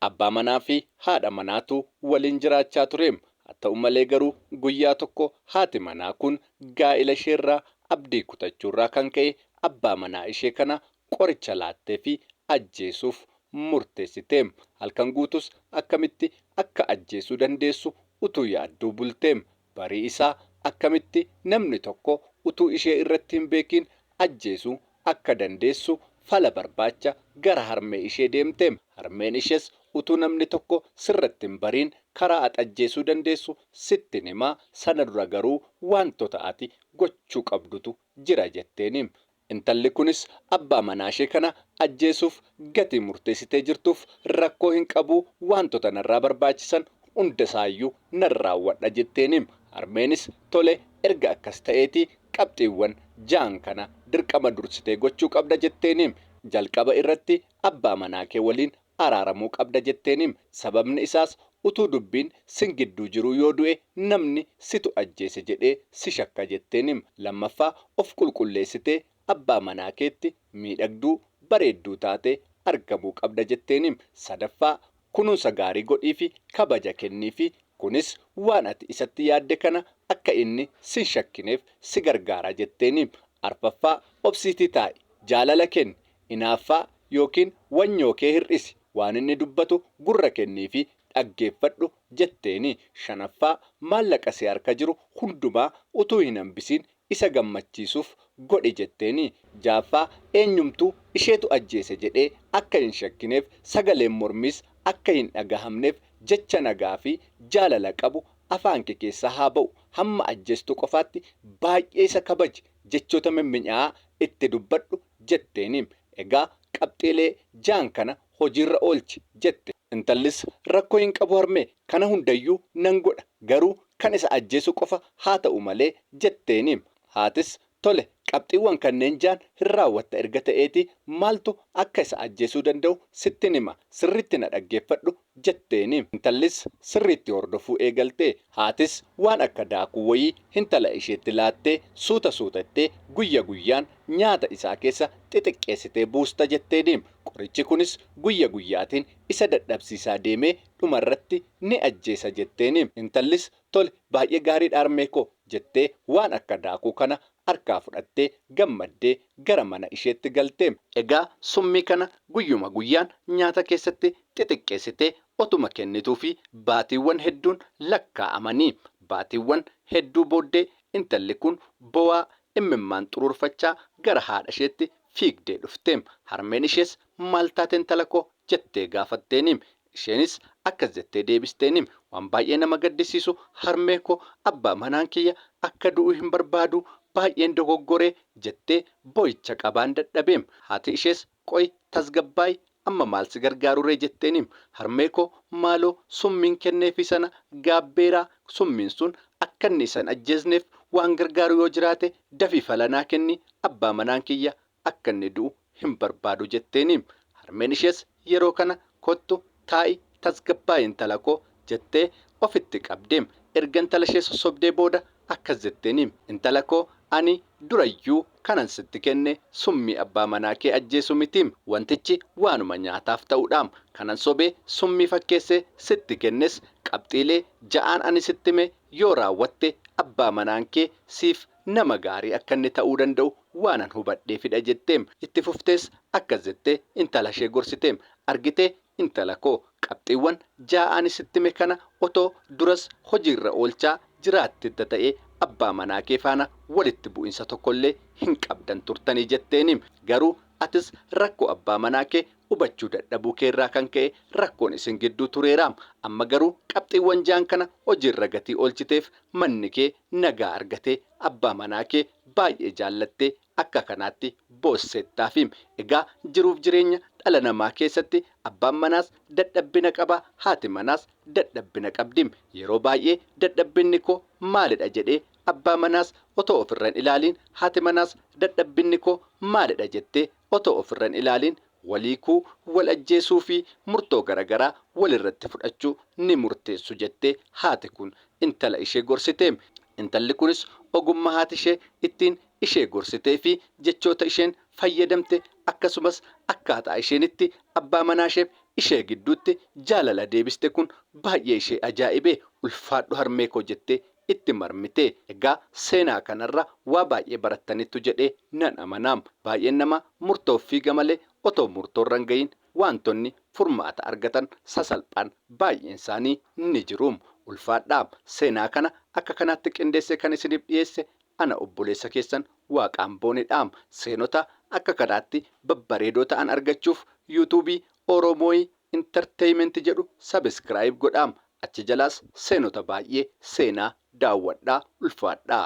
Abbaa manaa fi haadha manaatu waliin jiraachaa ture. Haa ta'u malee garuu guyyaa tokko haati manaa kun gaa'ila isheerraa abdii kutachuurraa kan ka'e abbaa manaa ishee kana qoricha laatteefii ajjeesuuf murteessite. Halkan guutuus akkamitti akka ajjeesuu dandeessu utuu yaadduu bulte. Barii isaa akkamitti namni tokko utuu ishee irratti hin beekiin ajjeesuu akka dandeessu fala barbaacha gara harmee ishee deemte. Harmeen ishees utuu namni tokko sirratti hin bariin karaa at ajjeesuu dandeessu sittin himaa sana dura garuu waantota ati gochuu qabdutu jira jetteeni. Intalli kunis abbaa manaashee kana ajjeesuuf gatii murteessitee jirtuuf rakkoo hin qabu, waantota narraa barbaachisan hundasaayyuu nan raawwadha jetteeniim. Harmeenis tole erga akkas ta'eetii qabxiiwwan ja'an kana dirqama dursitee gochuu qabda jetteeniim. Jalqaba irratti abbaa manaakee waliin araaramuu qabda jetteenim. Sababni isaas utuu dubbiin sin gidduu jiruu yoo du'e namni situ ajjeese jedhee si shakka jetteenim. Lammaffaa of qulqulleessitee abbaa manaa keetti miidhagduu, bareedduu taatee argamuu qabda jetteenim. Sadaffaa kunuunsa gaarii godhiifi kabaja kenniifi. Kunis waan ati isatti yaadde kana akka inni sin shakkineef si gargaara jetteenim. Arfaffaa obsiitii taa'i. Jaalala kenni. inaaffaa ykn wanyoo kee hir'isi, waan inni dubbatu gurra kenniifi dhaggeeffadhu jetteeni. Shanaffaa, maallaqa si harka jiru hundumaa utuu hin hambisiin isa gammachiisuuf godhi jetteeni. Ja'affaa, eenyumtuu isheetu ajjeese jedhee akka hin shakkineef, sagaleen mormiis akka hin dhagahamneef jecha nagaa fi jaalala qabu afaan kee keessaa haa ba'u. Hamma ajjeestu qofaatti baay'ee isa kabaji, jechoota mimminya'aa itti dubbadhu, jetteeni. Egaa qabxiilee ja'an kana hojiirra oolchi jette. Intallis rakkoo hin qabu harmee, kana hundayyuu nan godha, garuu kan isa ajjeesu qofa haa ta'u malee jetteeni. Haatis tole qabxiiwwan kanneen ja'an hin raawwatta erga ta'eetii maaltu akka isa ajjeesuu danda'u sittin hima, sirriitti na dhaggeeffadhu jetteeni. Intallis sirriitti hordofuu eegalte. Haatis waan akka daakuu wayii hintala isheetti laattee suuta suuta itti guyya guyyaan nyaata isaa keessa xixiqqeessitee buusta jetteeni. Qorichi kunis guyya guyyaatiin isa dadhabsiisaa deemee dhumarratti ni ajjeesa jetteeni. Intallis tole baay'ee gaariidha harmee koo jettee waan akka daakuu kana harkaa fudhattee gammaddee gara mana isheetti galte. Egaa summii kana guyyuma guyyaan nyaata keessatti xixiqqeessitee otuma kennituufii baatiiwwan hedduun lakkaa'amanii. Baatiiwwan hedduu booddee intalli kun bowaa immimmaan xuruurfachaa gara haadha isheetti fiigdee dhufte. Harmeen ishees maal taate intala koo? jettee gaafatteeni. Isheenis akkas jettee deebisteeni, waan baay'ee nama gaddisiisu harmee koo, abbaa manaan kiyya akka du'u hin barbaadu, baay'een dogoggore, jettee boo'icha qabaan dadhabe. Haati ishees Qoy tasgabbaa'i amma maal si gargaaruree jetteenim harmee koo maaloo summiin kenneefii sana gaabbeeraa summiin sun akkanni isa hin ajjeesneef waan gargaaru yoo jiraate dafii fala naa kenni abbaa manaan kiyya akkanni du'u hin barbaadu jetteenim harmeen ishees yeroo kana kottu Taa'i tasgabbaa'i intala koo, jettee ofitti qabde. Erga intala ishee sossobdee booda akkas jetteeni, Intala koo ani durayyuu kanan sitti kenne summii abbaa manaa kee ajjeesu miti. Wantichi waanuma nyaataaf ta'udha. Kanan sobee summii fakkeessee sitti kennes qabxiilee ja'aan ani sitti hime yoo raawwatte abbaa manaan kee siif Nama gaarii akka inni ta'uu danda'u waanan hubadheefidha jetteem. Itti fuftees akkas jettee intalashee gorsiteem, Argitee intala koo, qabxiiwwan ja'a ani sitti hime kana otoo duras hojiirra oolchaa jiraattetta ta'ee abbaa manaa kee faana walitti bu'insa tokkollee hin qabdan turtanii jetteeniim. Garuu atis rakkoo abbaa manaa kee hubachuu dadhabuu keerraa kan ka'e rakkoon isin gidduu tureeraam. Amma garuu qabxiiwwan ja'an kana hojiirra gatii oolchiteef manni kee nagaa argate abbaa manaa kee baay'ee jaallattee akka kanaatti boosseettaafi. Egaa jiruuf jireenya dhala namaa keessatti abbaan manaas dadhabbina qaba haati manaas dadhabbina qabdi. Yeroo baay'ee dadhabbinni koo maalidha jedhee abbaa manaas otoo ofirra hin ilaaliin haati manaas dadhabbinni koo maalidha jettee otoo ofirra hin ilaaliin wal hiikuu, wal ajjeesuu fi murtoo garagaraa wal irratti fudhachuu ni murteessu jettee haati kun intala ishee gorsite. Intalli kunis ogummaa haati ishee ittiin ishee gorsitee fi jechoota isheen fayyadamte akkasumas akkaataa isheen itti abbaa manaa isheef ishee gidduutti jaalala deebiste kun baay'ee ishee ajaa'ibe. Ulfaadhu harmee koo jettee itti marmite. Egaa seenaa kanarra waa baay'ee barattaniittu jedhee nan amana. Baay'een namaa murtoof fiiga malee otoo murtoorra hin gahiin waantonni furmaata argatan sasalphaan baay'eensaanii ni jiru. Ulfaadhaa! Seenaa kana akka kanaatti qindeessee kan isiniif dhiyeesse ana obboleessa keessan Waaqaan Boonedha. Seenota akka kanaatti babbareedoo ta'an argachuuf YouTube Oromoi Entertainment jedhu subscribe godhaa. Achi jalaas seenota baay'ee seenaa daawwadhaa ulfaadhaa.